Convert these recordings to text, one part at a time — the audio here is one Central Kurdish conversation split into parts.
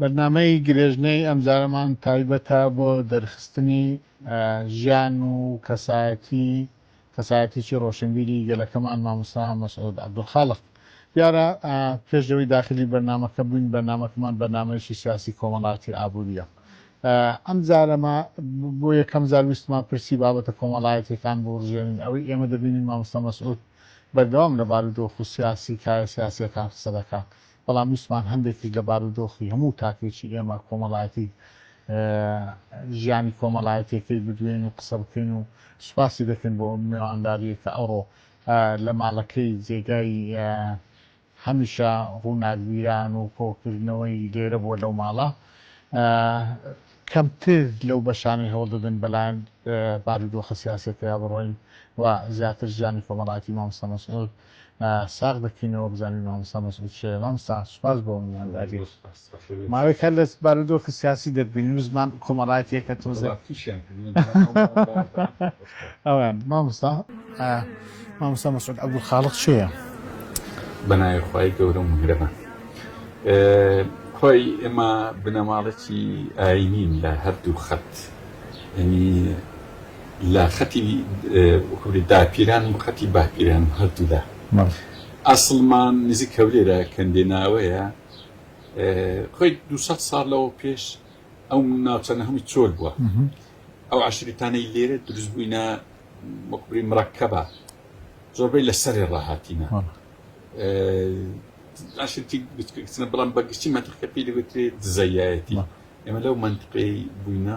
بەرنامەی گرێژنەی ئەمجارەمان تایبەتە بۆ دەرخستنی ژیان و کەسایەتی کەسایەتیی ڕۆشنبیری گەلەکەمان مامۆستا مەسعود عەبدولخالق. دیارە پێش لەوەی داخلی بەرنامەکە بووین، بەرنامەکەمان بەرنامەیەکی سیاسی کۆمەڵایەتی ئابوورییە. ئەم جارە ما بۆ یەکەم جار ویستمان پرسی بابەتە کۆمەڵایەتییەکان بوڕژێنین، ئەوەی ئێمە دەبینین مامۆستا مەسعود بەردەوام لە بارودۆخ و سیاسی کایە سیاسییەکان قسە دەکات، بەڵام ویستمان هەندێکیش لە بارودۆخی هەموو تاکێکی ئێمە کۆمەڵایەتی ژیانی کۆمەڵایەتیەکەی بدوێین و قسە بکەین و سوپاسی دەکەین بۆ ئەو مێوانداریەی کە ئەوڕۆ لە ماڵەکەی جێگای هەمیشە ڕووناکبیران و کۆکردنەوەی لێرە بووە لەو ماڵە کەمتر لەو بەشانەی هەوڵ دەدەن بەلایەن بارودۆخە سیاسیەکەیا بڕۆین و زیاتر ژیانی کۆمەڵایەتی مامۆستا مەسعود ساغ دەکەینەوە بزانین مامۆستا مەسعود کێیە مامۆستا سوپاس بۆ میوانداری ماوەیەک هەر لە بارودۆخی سیاسی دەربینی و زمان کۆمەڵایەتیەکە تۆزێ ئەوان مامۆستا مامۆستا مەسعود عەبدولخاڵق کێیە؟ بەناوی خوای گەورە و میهرەبان هۆی ئێمە بنەماڵەکی ئاینین لە هەردوو خەت ینی لە خەتی هەولێر داپیران و خەتی باپیران هەردوو لا ئەسڵمان نزیک هەولێرە کەندێناوەیە خۆی دو ساڵ لەوە پێش ئەو ناوچەنە هەمووی چۆل بووە ئەو عشریتانەی لێرە دروست بووینە مەکبری مڕکەبە زۆربەی لە سەرێ ڕاهاتینە ئاشتی بچکەکچنە بەڵام بەگشتی منتقەکە پێی دەگوترێت دزەیەتی ئێمە لەو منتقەی بووینە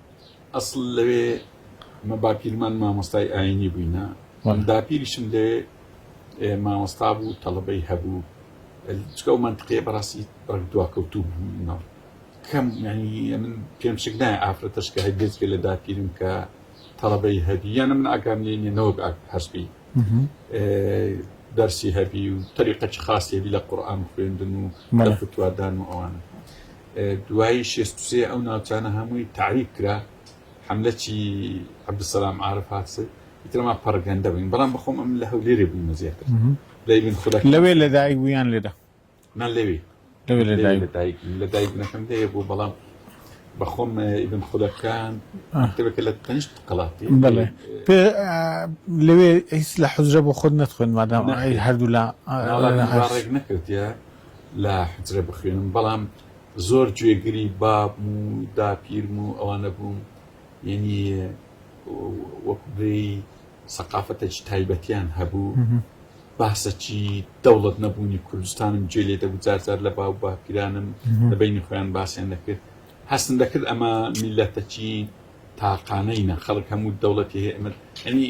ئەسڵ لەوێ مە باپیرمان مامۆستای ئاینی بووینە من داپیریشم لەوێ مامۆستا بوو تەڵبەی هەبوو چکە و منتقێ بەڕاستی بەک دواکەوتوو بووینەوە کەم ینی من پێم شک نایە ئافرەتەش کە هەگەز لە داپیرم کە تەڵبەی هەبی یانە من ئاکام لێنێ نەوەک هەستی دەرسی هەبی و تەریقەی خاصێبی لە قورآان خوێندن و مەلەفتوادان و ئەوانە دوایی شێست و سێ ئەو ناوچانە هەمووی تەعریب کرا حملەی عبدسەلام عرف هاتسێ ئیترما پەڕگەندە بووین بەڵام بەخۆم ئەم لە هەولێرێ بوومە زیاتر لەبین خودە لەوێ لە دایک بوویان لێدا من لەوێ لەوێ لە دایک لە دایک لە دایک نەکەم لەیە بوو بەڵام بەخۆم ئیبن خولەکان تەبێکە لە تەنشت قڵاتی بڵێ لەوێ هیچ لە حزرە بۆ خۆت نەتخۆن مادام هەردوو لە نەکردە لە حوجرە بخوێنم بەڵام زۆر گوێگری بابم و داپیرم و ئەوانە بووم یعنی وەکو بێی سەقافەتێکی تایبەتیان هەبوو باسەکی دەوڵەت نەبوونی کوردستانم جێ لێ دەبوو جارجار لە باو باپیرانم لە بینی خۆیان باسیان دەکرد هەستن دەکرد ئەمە میلەتەکی تاقانەینە خەڵک هەموو دەوڵەتی هەیە ئەمە ئەنی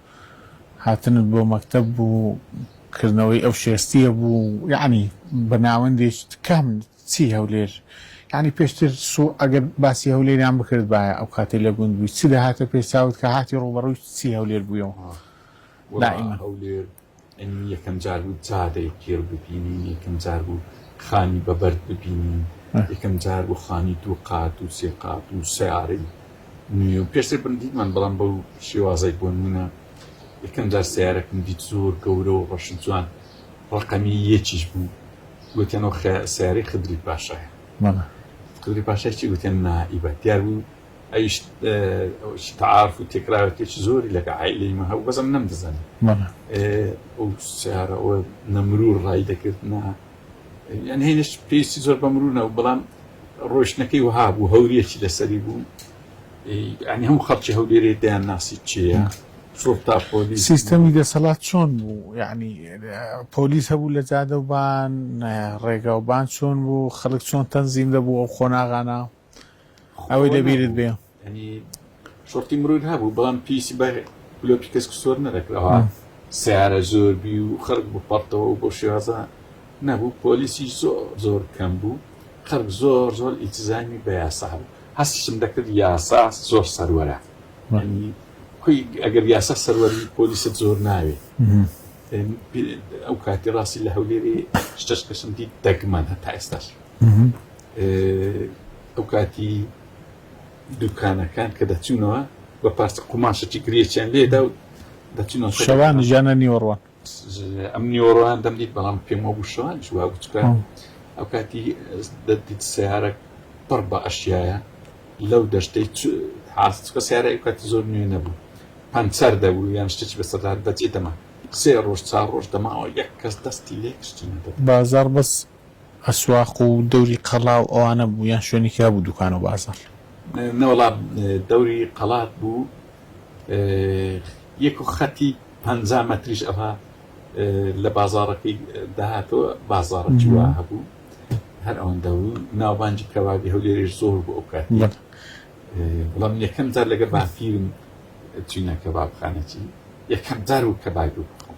هاتنت بۆ مەکتەب بوو کردنەوەی ئەو شێستیە بوو یەعنی بە ناوەندێکی تکام چی هەولێر یەعنی پێشتر سو ئەگەر باسی هەولێریان بکردبایە ئەو کاتەی لە گوند بووی چی دەهاتە پێ چاوت کە هاتی ڕووبەڕووی چی هەولێر بوویەوە دائیمەن. ئەی یەکەم جار بوو جادەی قیر ببینین یەکەم جار بوو خانی بە بەرد ببینین یەکەم جار بوو خانی دوو قات و سێ قات و سیارەی نوێ و پێشتر بندیمان بەڵام بەو شێوازای بۆ نمونە یەکەم جار سیارەکم دیت زۆر گەورە و ڕەش جوان ڕقەمی یەکیش بوو گوتیانەوە سیارەی خدری پاشایە خدری پاشای چی گوتیان نائیبە دیار بوو ئەویش تعارف و تێکراوێکێکی زۆری لەگە عائیلەی مە هەبوو بەزم نەمدەزانی ئەو سیارە ئەوە نەمرور ڕای دەکرد نا یان هێنش پێویستی زۆر بە مرونە و بەڵام ڕۆشنەکەی وها بوو هەوریەکی لەسەری بوو ئەنی هەموو خەڵکی هەولێرێ دەیان ناسی چیە سوڵتا پۆلیس سیستەمی دەسەڵات چۆن بوو یعنی پۆلیس هەبوو لە جادەبان ڕێگاوبان چۆن بوو خەڵک چۆن تەنزیم دەبوو ئەو قۆناغانە ئەوەی لەبیرت بێ شۆرتی مرود هەبوو بەڵام پیسی بە لۆپی کەس سۆر نەدەکراوە سیارە زۆر بی و خەرک بپەڕتەوە و بۆ شێوازە نەبوو پۆلیسی زۆر زۆر کەم بوو خەرک زۆر زۆر ئیتزامی بە یاسا بوو هەستشم دەکرد یاسا زۆر سەروەرە کوی ئەگەر یاسا سەروەری پۆلیست زۆر ناوێ ئەو کاتی ڕاستی لە هەولێری شتەش کەسم دیت دەگمەن هەتا ئێستاش ئەو کاتی دوکانەکان کە دەچوونەوە بە پارچە قوماشەی گرێچیان لێدا و دەچوونەوە شەوان ژیانە نیوەڕوان ئەم نیوەڕوان دەمدیت بەڵام پێمەوە بوو شەوان جووا بچکە ئەو کاتی دەدیت سیارە پڕ بە ئەشیایە لەو دەشتەی حاستکە سیارە ئەو کاتی زۆر نوێ نەبوو پەنچەر دەبوو یان شتێکی بەسەدار دەچێتەمە سێ ڕۆژ چا ڕۆژ دەماوە یەک کەس دەستی لێ کشتی بازار بەس ئەسواق و دەوری قەڵا و ئەوانە بوو یان شوێنێکی هەبوو دوکان و بازاڕ؟ نەوەڵا دەوری قەڵات بوو یەک و خەتی پەنجا مەتریش ئەوها لە بازاڕەکەی داهاتەوە بازاڕەکی وا هەبوو هەر ئەوەندە بوو ناوبانجی کەبابی هەولێرش زۆر بۆ ئەو کاتی بەڵام یەکەم جار لەگە بافیرم چینە کەبابخانەچی یەکەم جار و کەبابی بخۆم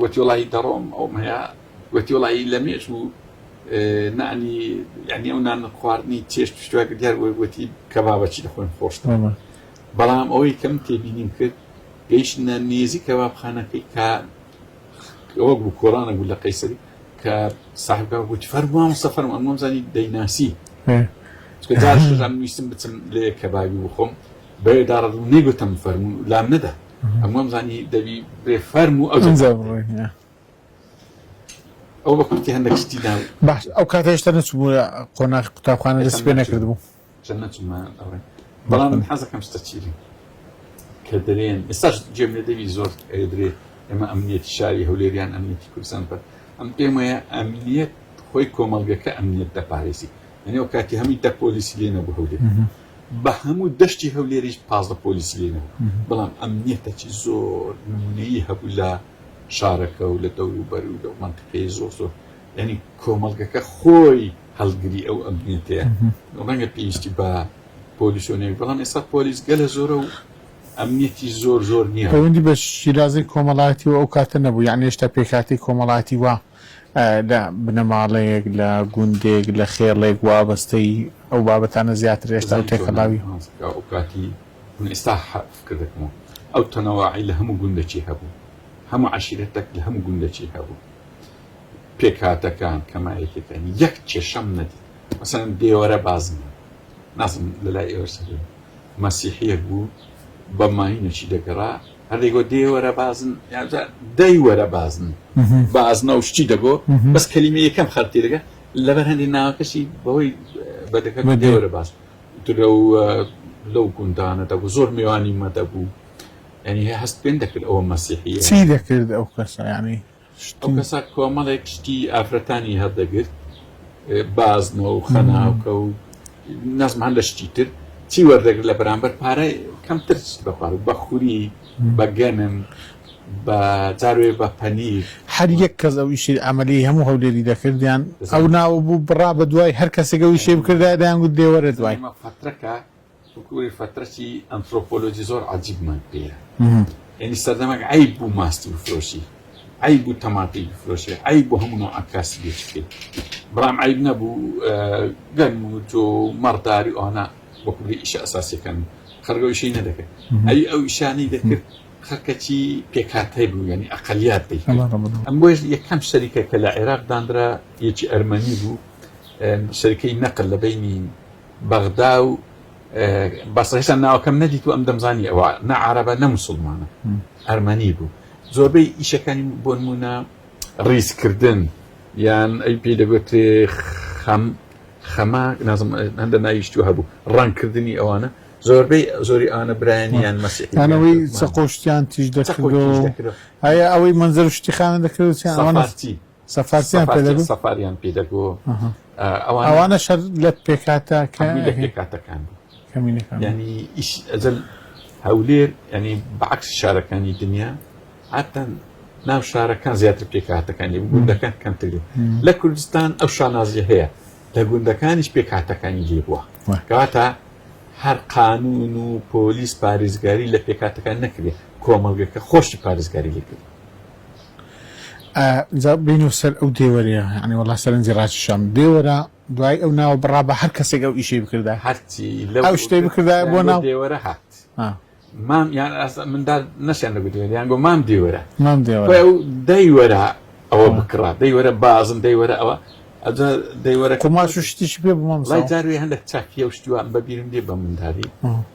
گۆتی وەڵا هی تەڕۆم ئەوم هەیە گۆتی وەڵا هی لەمێش و نانی یعنی ئەو نان خواردنی چێشت پشتوا کرد دیار بۆی گۆتی کەبابەچی لە خۆم خۆشتەوە بەڵام ئەوەی کەم تێبینیم کرد گەیشتنە نێزی کەبابخانەکەی کە ئەوە بوو کۆرانە بوو لە قەیسەری کە ساحبکە گوتی فەرموام سەفەرم ئەمەم زانی دەیناسی ویستم بچم لێ کەبابی بخۆم بەێداڕ نەگوتم فەرمون لام نەدا ئەم وەمزانی دەبی بێ فەرم و ئەو ئەو بە کورتی هەندێک شتی دا باش ئەو کاتە هێشتا نەچبوو قۆناخ قوتابخانە دەست پێ نەکردبوو بەڵام حەزەکەم شتە چیری کە دەرێن ئێستاش جێم لێ دەوی زۆر ئەدرێ ئێمە ئەمنیەتی شاری هەولێریان ئەمنیەتی کوردستان بەر ئەم پێم وایە ئەمنیەت خۆی کۆمەڵگەکە ئەمنیەت دەپارێزی ئەنێ و کاتی هەمی دە پۆلیسی لێ نەبوو هەولێر بە هەموو دەشتی هەولێریش پازدە پۆلیسی لێ نەبوو، بەڵام ئەمنیەتەکی زۆر نمونەیی هەبوو لە شارەکە و لە دەوروبەر و لەو مەنتیقەی زۆر زۆر یانی کۆمەڵگەکە خۆی هەڵگری ئەو ئەمنیەتەیە ڕەنگە پێویستی بە پۆلیس و نەوی بەڵام ئێستا پۆلیس گەلە زۆرە و ئەمنیەتی زۆر زۆر نییە پەیوەندی بە شیرازەی کۆمەڵایەتی و ئەو کاتە نەبوو یان هێشتا پێکهاتەی کۆمەڵایەتی وا لە بنەماڵەیەک، لە گوندێک، لە خێڵێک وابەستەی ئەو بابەتانە زیاتر ئێستا و تێکەڵاوی. من ئێستا فکر دەکەم و ئەو تەنەواعی لە هەموو گوندەکی هەبوو، هەموو عەشیرەتەک لە هەموو گوندەکی هەبوو، پێکهاتەکان، کەمایەکیەکان، یەک کێشەم نەدیت، مەسەلەن دێوەرە بازم هەبوو، نازم لەلای ئێوەش هەبێ، مەسیحیەک بوو بە ماینەکی دەگەڕا، هەر دەیگۆت دێ وەرە بازن یاجا دەی وەرە بازن بازنە و شتی دەگۆ بەس کەلیمە یەکەم خەرتی دەگە لەبەر هەندی ناوەکەشی بەهۆی بەدەکە دێ وەرە باز لەو لەو گوندانە دەبوو زۆر میوانی مە دەبوو ینی هەست پێن دەکرد ئەوە مەسیحی چی دەکرد ئەو کەسە ینی ئەو کەسە کۆمەڵێک شتی ئافرەتانی هەردەگرت بازنە و خەناوکە و نەزمان لە شتی تر چی وەردەگرت لە بەرامبەر پارە کەمتر بەپار و بەخوری بەگەنم بە جاروێ بە پەنیر هەر یەک کەس ئەو ئیشی ئەمەلی هەموو هەولێری دەکردیان ئەو ناوە بوو بڕا بە دوای هەر کەسێکە ویشێ بکردایە دەیانگوت دێ وەرە دوای. ئەمە پەترەکە وەکوی فترەتی ئەنترۆپۆلۆجی زۆر عەجیبمان پێیە یعنی سەردەمەک عەیب بوو ماستی بفرۆشی عەیب بوو تەماتەی بفرۆشی عەیب بوو هەموو نەوعە کاسبێک بکەیت برام عەیب نەبوو گەن و تۆ مەڕداری ئەوانە وەکو بێ ئیشە ئەساسیەکان خەرگە ئیشەی نەدەکرد ئەوی ئەو ئیشانەی دەکرد خەکەچی پێکاتای بوو ینی ئەقلیات دەی ئەم بۆش یەکەم شەریکە کە لە عێراق دانرا یەکی ئەرمەنی بوو شەرکەی نەقل لە بینی بەغدا و بەسڕە هێشتا ناوەکەم نەدیتوە ئەم دەمزانی ئەوە نە عربە نە مسلمانە ئەرمەنی بوو زۆربەی ئیشەکانی بۆ نمونە ڕیزکردن یان ئەی پێ دەگوترێ خەم خەما نازم هەندە ناویشتو هەبوو ڕەنکردنی ئەوانە زۆربەی زۆری ئانە برایانیان مەسیانەوەی سەقۆشتیان تیش دەکردەوە هەیە ئەوەی منزەر شتیخانە دەکردوتیان ئەوانەتی سەفارتیان سەفاریان پێ دەگۆ ئەوانە شەر لە پێکاتە لە پێکاتەکان ینی ئیش ئەجل هەولێر ینی بەعکس شارەکانی دنیا هاتەن ناو شارەکان زیاتر پێکاتەکانی گوندەکان کەمتر لە کوردستان ئەو شانازی هەیە لە گوندەکانیش پێکاتەکانی لێ بووە کەواتە هەر قانون و پۆلیس پارێزگاری لە پێکاتەکان نەکرێت کۆمەڵگەکە خۆشی پارێزگاری لێکرد جا بینو سەر ئەو دێوەرەیە یانی وەڵا سەرنجی ڕاکیشام دێوەرە دوای ئەو ناوە بڕا بە هەر کەسێک ئەو ئیشەی بکردایە هەرچی لەو ئەو شتەی بکردایە بۆ ناو دێوەرە هات ها. مام یان ئاسا مندار نەشیان لە گوتوێن یان گۆ مام دێوەرە مام دێوەرە خۆی ئەو دەیوەرە ئەوە آه. بکڕا دەیوەرە بازم دەیوەرە ئەوە ئەجا دەیوەرە قوماش و شتیشی پێ بوو مام لای جاروێ هەندێک چاکیە و شتوان بەبیرم دێ بە منداری آه.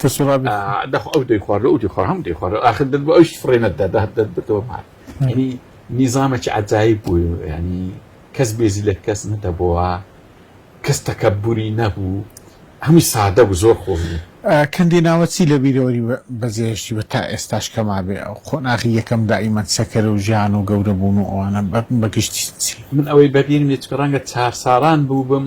کەچی ڕا بێ دەخۆ ئەو دەیخوارد ئەو دەیخۆر هەموو دەیخوارد ئاخر دەت بۆ ئەوش فڕێ نەتدا دەهات دەت بردەوە مار ینی نیزامەکی عجایی بوو ینی کەس بێزی لە کەس نەدەبەوە کەس تەکەبوری نەبوو هەمووی سادە بوو زۆر خۆش بوو کەندی ناوە چی لە بیرەوەری بەجێهشتی بە تا ئێستاش کەما بێ ئەو قۆناغی یەکەم دائیمەن سەکەرە و ژیان و گەورە بوون و ئەوانە بە گشتی چی من ئەوەی بەبیرم یەچکە ڕەنگە چار ساڵان بوو بم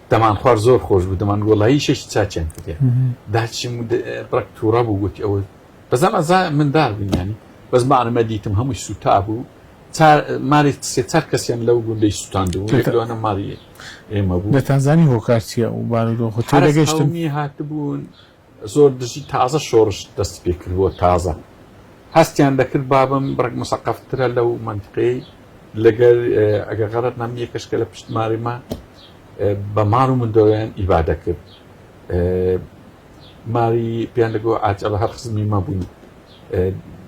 دەمان خوار زۆر خۆش بوو دەمان گۆڵایی شەشی چاچیان کردێ داچیم ڕک تووڕە بوو گوتی ئەوە بەزان ئەزا مندار بینیانی بەس مانەمە دیتم هەمووی سوتا بوو ماری سێ چار کەسیان لەو گوندەی سوتاندوو لەوانە ماری ئێمە بوو لە تانزانی هۆکارچیە و بارودۆخ هاتبوون زۆر دژی تازە شۆرش دەستی پێکردبووە تازە هەستیان دەکرد بابم بڕک مسەقەفترە لەو منتقەی لەگەر ئەگە غەرت نام یەکەش کە لە پشت ماریمە بە مار و مندۆیان ئیبادە کرد ماری پێیان دەگۆ ئاجەڵە هەر خزمی مە بووین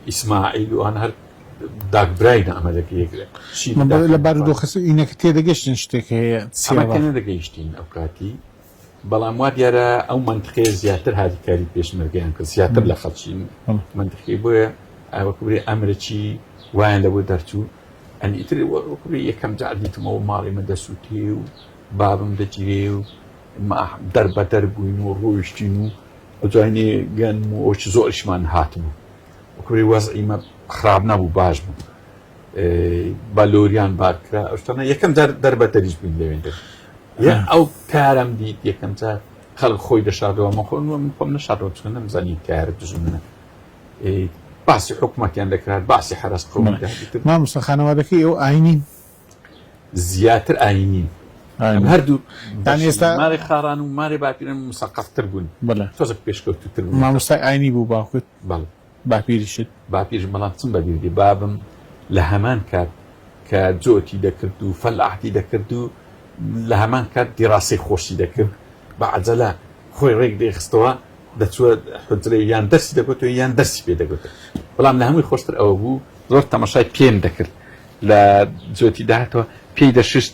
ئیسماعیل وان هەر داگبرای نامەلەکە یەکرێت لە بارودۆخەس ئینەکە تێدەگەشتن شتێک هەیە سیمەکە نەدەگەیشتین ئەو کاتی بەڵام وا دیارە ئەو منتقەیە زیاتر هاریکاری پێشمەرگیان کرد زیاتر لە خەڵکی منتقی بۆیە ئاوەکوێ ئەمرەکی وایان لەوە دەرچوو ئەنی ئیتر وەکوێ یەکەم جار دیتمەوە ماڵی من دەسووتێ و بابم دەگیرێ و دەربە دەر بووین و ڕۆیشتین و ئەجوانی گەن و ئەوچ زۆرشمان هاتبوو وەکوێ وەز ئیمە خراپ نەبوو باش بوو بە لۆریان بارکرا ئەشتانە یەکەم جار دەربەتەریش بووین لەوێندە ئەو کارم دیت یەکەم جار خەڵک خۆی دەشادەوە مەخۆن وە من خۆم نەشادەوە چکە نەمزانی کارە دژمنە باسی حکوومەتیان دەکرات باسی حرس قوم مامۆستا خانەوادەکەی ئەو ئاینی زیاتر ئاینی هەردوو دان ئێستا مارێ خاران و مارێ باپیرن مسەقفتر بوون تۆزە پێشکەوتتر مامۆستای ئاینی بوو باوکت باپیریشت؟ باپیرش بەڵام چم بەبیر دێ بابم لە هەمان کات کە جۆتی دەکرد و فەلاحتی دەکرد و لە هەمان کات دیراسەی خۆشی دەکرد بە عەجەلە خۆی ڕێک دەیخستەوە دەچووە حجرەی یان دەرسی دەگوت و یان دەرسی پێ دەگوت بەڵام لە هەمووی خۆشتر ئەوە بوو زۆر تەمەشای پێم دەکرد لە جۆتی داهاتەوە پێی دەششت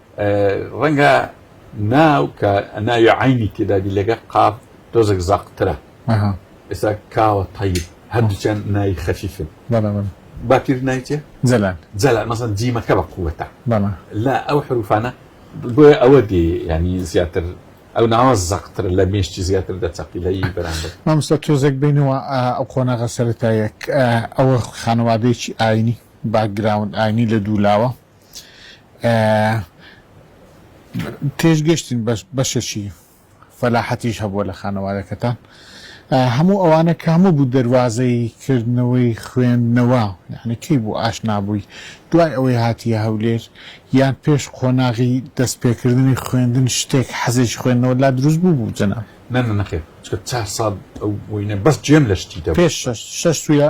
ڕەنگە ناو کە ناوی عینی تێدابی لەگە قاف تۆزێک زاقترە ئێستا کاوە تەیب هەردووچەند ناوی خەفیفن باپیر نایچێ جەلان جەلان مەسەن جیمەکە بە قووەتە لا ئەو حروفانە بۆیە ئەوە دێ ینی زیاتر ئەو ناوە زەقتر لە مێشتی زیاتر دەچەقی لە ی بەرامبەر مامۆستا تۆزێک بینەوە ئەو قۆناغە سەرەتایەک ئەوە خانەوادەیەکی ئاینی باکگراوند ئاینی لە دوولاوە تێش گەشتین بەشەشی فەلاحەتیش هەبووە لە خانەوادەکەتان هەموو ئەوانە کە هەموو بوو دەواازەی کردنەوەی خوێندنەوە یعنی کەی بوو ئاشنابووی دوای ئەوەی هاتیە هەولێر یان پێش قۆناغی دەست پێکردنی خوێندن شتێک حەزێکی خوێندنەوە لا دروست بوو بوو جەنا نەنەخێ چار ساڵ ئەو بووینە بەس جێم لە شتی دە پێش شش سوە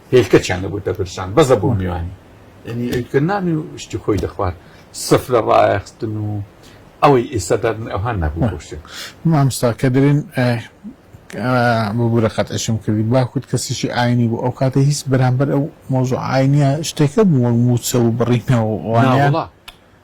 هێلکەچیان دەبوو دەبرژان بەس دەبوو میوانی ینی ئەوکە نانی و شتی خۆی دەخوارد سف لە ڕایەخستن و ئەوەی ئێستا دادن ئەوها نەبوو بۆ شتێک مامستا کە دەرێن ببوورە قەت ئەشم کردی باکوت کەسیشی ئاینی بوو ئەو کاتە هیچ بەرامبەر ئەو مۆزۆ ئاینیە شتێکە بوو وەک موچە و بڕینەوە وانە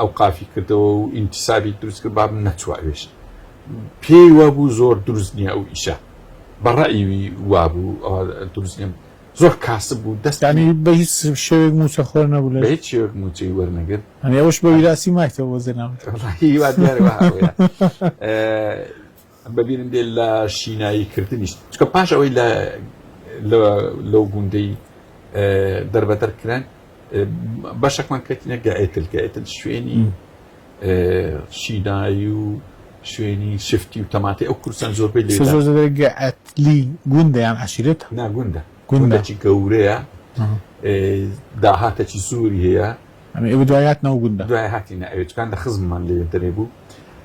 ئەوقافی کردەوە و ئینتسابی دروست کرد باب نەچوە ئەوێش پێی وابوو زۆر دروست نییە ئەو ئیشە بەڕئیوی وابوو دروست نیە زۆر کاسب بوو دەستانی بە هیچ شێوێک موچە خۆر نەبوو لە هیچ شێوێک موچەی وەرنەگر ئەنی ئەوش بە ویراسی مایتەوە بۆ زێناوت بە بیرم دێ لە شینایی کردنیش چکە پاش ئەوەی لە لەو گوندەی دەربەدەر کران بەشەکمان کەتینە گەئتل گەئتل شوێنی شینایی و شوێنی شفتی و تەماتی ئەو کورسان زۆربەی لێگەئتلی گوندیان عشیرێت ناگوندە گوندەی گەورەیە داهاتەی زۆری هەیە ئەمە ئێوە دوایاتنەوە گوندە دوای هاتینە ئەوێتکان لە خزممان لێ دەرێ بوو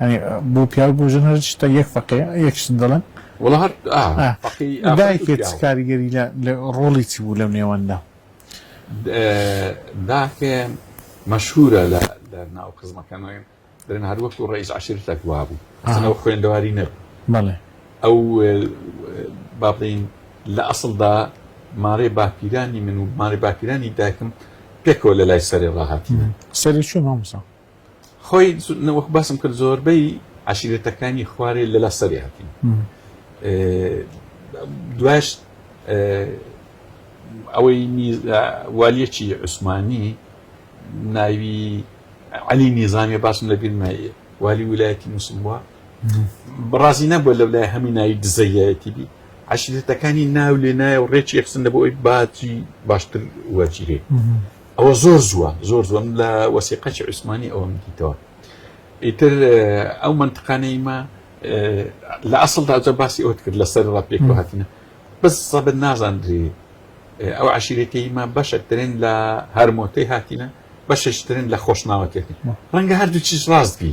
یانی بۆ پیاو بۆ ژن هەر شتە یەک فەقێ یەک شت دەڵێن وەڵا هەر ئا ئا فەقێی ئافرەت و دایکت چ پیاو کاریگەری لە لە ڕۆڵی چی بوو لەو نێوەندا؟ د- ئە، داکێ مەشهوورە لە لە ناو خزمەکانەوەی دەڵێن هەر وەکو ڕەئیس عەشیرەتەک وابوو ئەسڵەن ئەو ئەها خوێندەواری نەبوو بەڵێ ئەو ئە، با بڵێین لە ئەسڵدا مارێ باپیرانی من و مارێ باپیرانی دایکم پێکەوە لە لای سەرێ ڕاهاتینە. سەرێ چۆن مامۆستا؟ خۆی وەک باسم کرد زۆربەی عشیرەتەکانی خوارێ لە لا سەری هاتین دواش ئەوەی والیەکی عوسمانی ناوی علی نیزانانی باسم لە بیرمایە والی ولایەتی موسم بووە بڕازی نەبووە لە لای هەمی ناوی دزەیەتی بی عشیرەتەکانی ناو لێ نایە و ڕێکی یەخسن لە بۆ ئەوی باجی باشتر وەرگیرێت ئەوە زۆر زووە زۆر زۆم لە وەسیقەچی عوسمانی ئەوەم دیتەوە ئیتر ئەو منتقانەی ما لە ئەسڵدا جە باسی ئەوت کرد لە سەر ڕاپێک هاتنە بەس سەبت نازاندری ئەو عشیرەتەی ما بەشەترین لە هەرمۆتەی هاتینە بەششترین لە خۆشناوەتێتی ڕەنگە هەردوو چیز ڕاست بی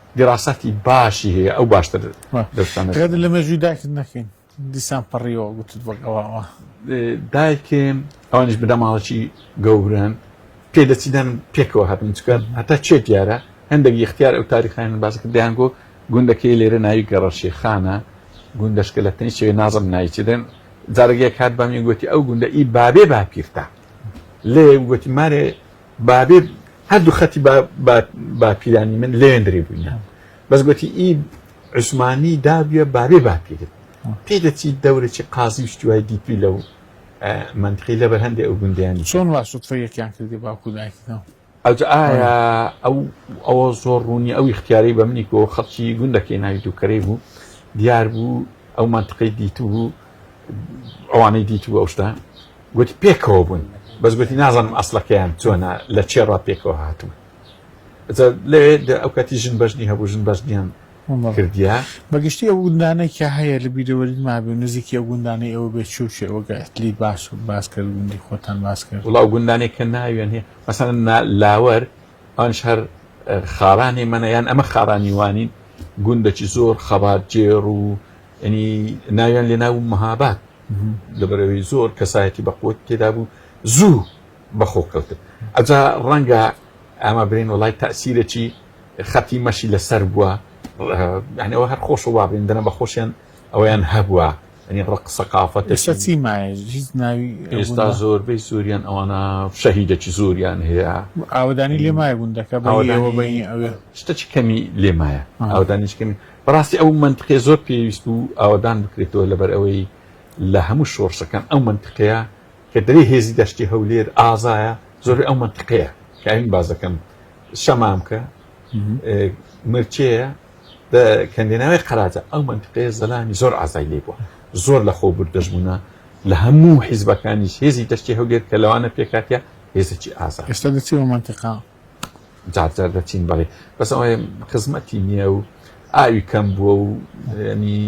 دیراساتی باشی هەیە ئەو باشتر دەستانەکەت لە مێژووی داکت نەکەین دیسان پەڕیەوە گوتت بە گەواوە دایکێم ئەوانش بدەماڵەکی گەورن پێ دەچیدان پێکەوە هاتن چکە هەتا چێ دیارە هەندێک یختیار ئەو تاریخیان باسکە دیانگۆ گوندەکەی لێرە ناوی گەڕەشی خانە گوندەشکە لە تەنی چێ نازم نایچدن جارگەیە کات بەمی گوتی ئەو گوندە ئی بابێ باپیرتە لێ گوتی مارێ بابێ هەردوو خەتی باپیرانی من لێندرێ بووینە بەس گوتی ئی عوسمانی دابە بابێ باپیرت پێ دەچیت دەورەی قازی شتوای دیپی لەو منتقی لەبەر هەندێک ئەو گوندیانی چۆن واسوتفە یەکیان کردی باکو دایکەوە ئەوجا ئایا ئەو ئەوە زۆر ڕوونی ئەو اختیارەی بە منی کۆ خەڵکی گوندەکەی ناوی دووکەرەی بوو دیار بوو ئەو منتقی دیت بوو ئەوانەی دیت بوو ئەوشتا گوتی پێکەوە بوون بەس گوتی نازانم ئەسلەکەیان چۆنە لە چێ ڕا پێکەوە هاتوون لەوێ ئەو کاتی ژن بەژنی هەبوو ژن بەژنیان کردیا بەگشتی ئەو گوندانێک کە هەیە لە بیرەوەری مابێ و نزیکی ئەو گوندانەی ئەوە بێت چوو چێ ئەوگە ئەتلی باش و باس کرد گوندی خۆتان باس کرد وڵاو گوندانێک کە ناویان هەیە مەسەن لاوەر ئەوش هەر خاڕانی منە یان ئەمە خاڕانی وانین گوندەکی زۆر خەبات جێڕ و ینی ناویان لێ ناو مەهابات لەبەرەوەی زۆر کەسایەتی بەقوەت تێدا بوو زوو بەخۆ کەوتن ئەجا ڕەنگە ئەمە برین وڵای تاسیرەی خەتی مەشی لەسەر بووە یانەوە هەر خۆش و وابین دەنە بە خۆشیان ئەویان هەبووە ئەنی ڕق سەقافەت چی ناوی ئێستا زۆربەی سووریان ئەوانە شەهیدەکی زۆریان هەیە ئاودانی لێمای بوون دەکە بەەوە بینی ئەوێ شتەکی کەمی لێمایە ئاودانیش کەمی بەڕاستی ئەو مەنتقەیە زۆر پێویست بوو ئاوەدان بکرێتەوە لەبەر ئەوەی لە هەموو شۆڕشەکان ئەو مەنتقەیە کە دەرێ هێزی دەشتی هەولێر ئازایە زۆر ئەو مەنتقەیە کاین بازەکەم شەمامکە مرچەیە کەندێناوی قەراجە ئەو منتقەیە زەلامی زۆر ئازای لێ بووە زۆر لە خۆ بردەژبوونە لە هەموو حیزبەکانیش هێزی دەشتی هەولێر کە لەوانە پێکاتە هێزەکی ئازا ئێستا دەچی بە منتقا جارجار دەچین بەڵێ بەس ئەوێ خزمەتی نییە و ئاوی کەم بووە و ینی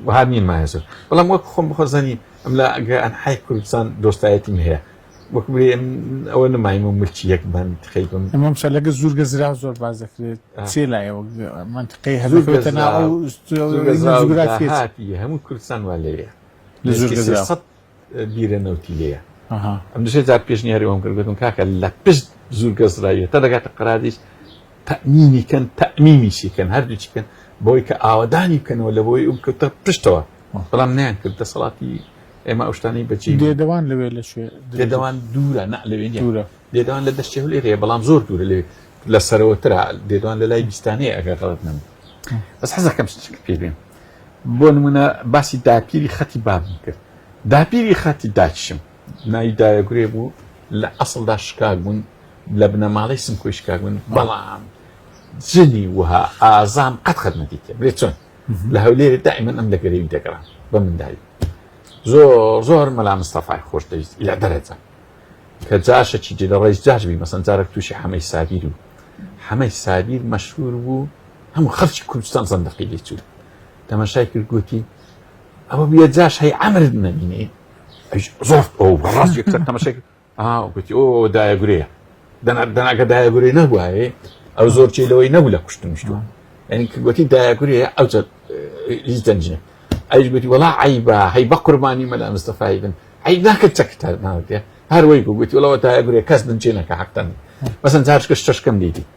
وها نیم مایەسر بەڵام وەک خۆم بخۆزانی ئەم لە ئەگە ئەنحای کوردستان دۆستایەتیم هەیە وەک بێ ئەوە نمایم و ملکی یەک بەن خەیبم ئەمەم شە لەگە زورگە زرا زۆر باز دەکرێت چێ لایەوە منتقی هەزورگەتە ناوگرافی هەموو کوردستان وا لەوێ لە زورگە بیرە نەوتی لێیە ئەم دژێ جار پێشنیاری ئەوم کردگوتم کاکە لە پشت زور گەزرایە تا دەگاتە قرادیش تەمینی کەن تەمیمی شیکەن هەردووچی کەن بۆی کە ئاوادانی بکەنەوە لە بۆی ئەم کەوتە پشتەوە بەڵام نیان کرد دەسەڵاتی ئێمە ئەوشتانی بەچی دێدەوان لەوێ لە شوێ دێدەوان دوورە نە لەوێ دوورە دێدەوان لە دەشتێ لێرەیە بەڵام زۆر دوورە لێ لە سەرەوەترا دێدوان لە لای بیستانەیە ئەگەر غڵت نم بەس حەزەکەم پێ بێن بۆ نموونە باسی داپیری خەتی بابم کرد داپیری خەتی داچشم ناوی دایەگورێ بوو لە ئەسڵدا شکاک بوون لە بنەماڵەی سمکۆی شکاک بوون بەڵام جنی وها ئازان قەت خەت نەدیتێ بێ چۆن لە هەولێری دائیمەن ئەم لە گەرەوی دەگەڕان بە مندایی زۆر زۆر مەلا مستەفای خۆش دەویست لە دەرەجە کە جاشەکی جێ لە ڕێز جاش بی مەسەن جارێک تووشی حەمەی سابیر و حەمەی سابیر مەشهور بوو هەموو خەرچی کوردستان زەندەقی لێ چوو تەمەشای کرد گوتی ئەوە بە جاش هەی ئەمر نەمینێ زۆر ئەو ڕاست یەکسەر تەمەشێک گوتی ئەو دایە گورەیە دەناگە دایە گورێ نەبووایە ئەو زۆر چی لەوەی نەبوو لە کوشتن شتووە یعنی کردوەتی دایە گورێ ئەو هیچ دەنجە ئەیش گوتی وڵا عیبا هەی بە قوربانی مەلا مستەفای بن ئەی ناکە چەکتە ناوتێ هەروەی گوتی وڵەوە دایە گورێ کەس دنجێنەکە حقتەن بەسەن جارشکە شتەشکەم دیدی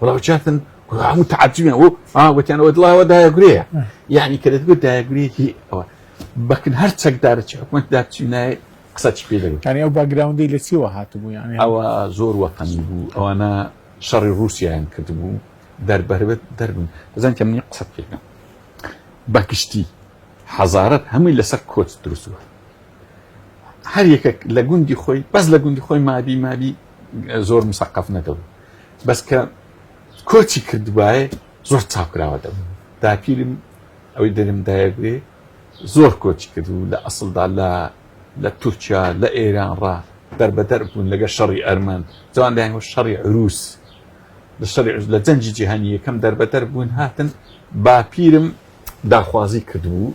وڵا چاتن هەموو تعجبیان و وتیان وە دڵاوە دایەگرەیە یعنی کە دەتگوت دایەگرێکی ئەوە بەکن هەر چەکدارە چ حکومت داچینای قسە چ پێ دەگوت یعنی ئەو باگراوندی لە چیوە هاتبوو یعنی ئەوە زۆر وەقەنی بوو ئەوانە شەڕی رووسیان کردبوو دەربەربێت دەربن بزان کە منی قسە پێکەم بەگشتی حەزارەت هەمووی لەسەر کۆچ دروستوە هەر یەکێک لە گوندی خۆی بەس لە گوندی خۆی مابی مابی زۆر مسەقەف نەدەبوو بەس کە کۆچی کردبایە زۆر چاپکراوە دەبوو داپیرم ئەوەی دەرم دایەگوێ زۆر کۆچی کردبوو لە ئەسڵدا لە لە تورکیا لە ئێران ڕا دەربەدەر بوون لەگە شەڕی ئەرمەند جوان دایان شەڕی عروس لە شەڕی لە جەنجی جیهانی یەکەم دەربەدەر بوون هاتن باپیرم داخوازی کردبوو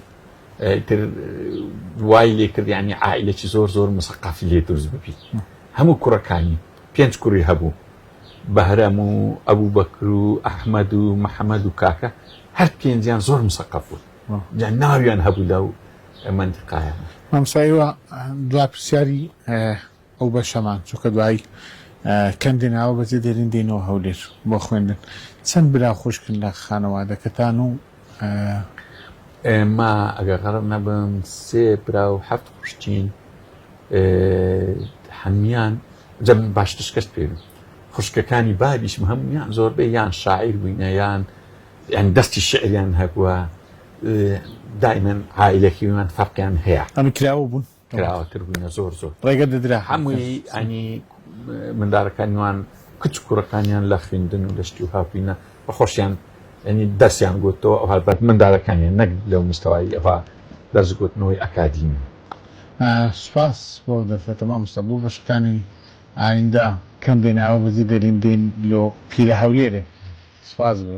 تر وای لێ کرد ینی عیلێکی زۆر زۆر مسەقافی لێ دروست ببیت هەموو کوڕەکانی، پێنج کوڕی هەبوو، بەهرەم و ئەبوبەکر و ئەحمەد و محەمەد و کاکە، هەر پێنجیان زۆر مسەقەف بوون، جا ناویان هەبوو لەو مەنتیقایانە. مامۆستا ئێوە دوا پرسیاری ئەو بەشەمان، چونکە دوایی کەم دێن، ئاوا بەجێ دێرین دێینەوە هەولێر بۆ خوێندن، چەند برا و خوشکن لە خانەوادەکەتان و ئێمە ئەگەر غەرق نەبم سێ برا و هەفت خوشکین هەموان جە باشتر شکست پێوین خوشکەکانی بابیشم هەموان زۆربەی یان شاعیر بووینە یان یان دەستی شعریان هەبووە دایمەن عیلەکیوان فەرقیان هەیە ئەمە کراوە بوون کراوەتر بووینە زۆر زۆر ڕێگە دەدرا هەمووی ئەنی مندارەکانیوان کچ کوڕەکانیان لە خوێندن و لەشتی و هاپینە بە خۆشیان ئەنی دەستیان گوتەوە ئەوها بەت مندارەکانیان نەک لەو مستەوایی ئەوها دەستگوتنەوەی ئەکادیمی سوپاس بۆ دەرفەتە مامۆستا بۆ بەشەکانی ئایندە کەم دێن ئاوا بەجێ دەرین دێن لۆ پیرە هەولێرێ سوپاس بۆ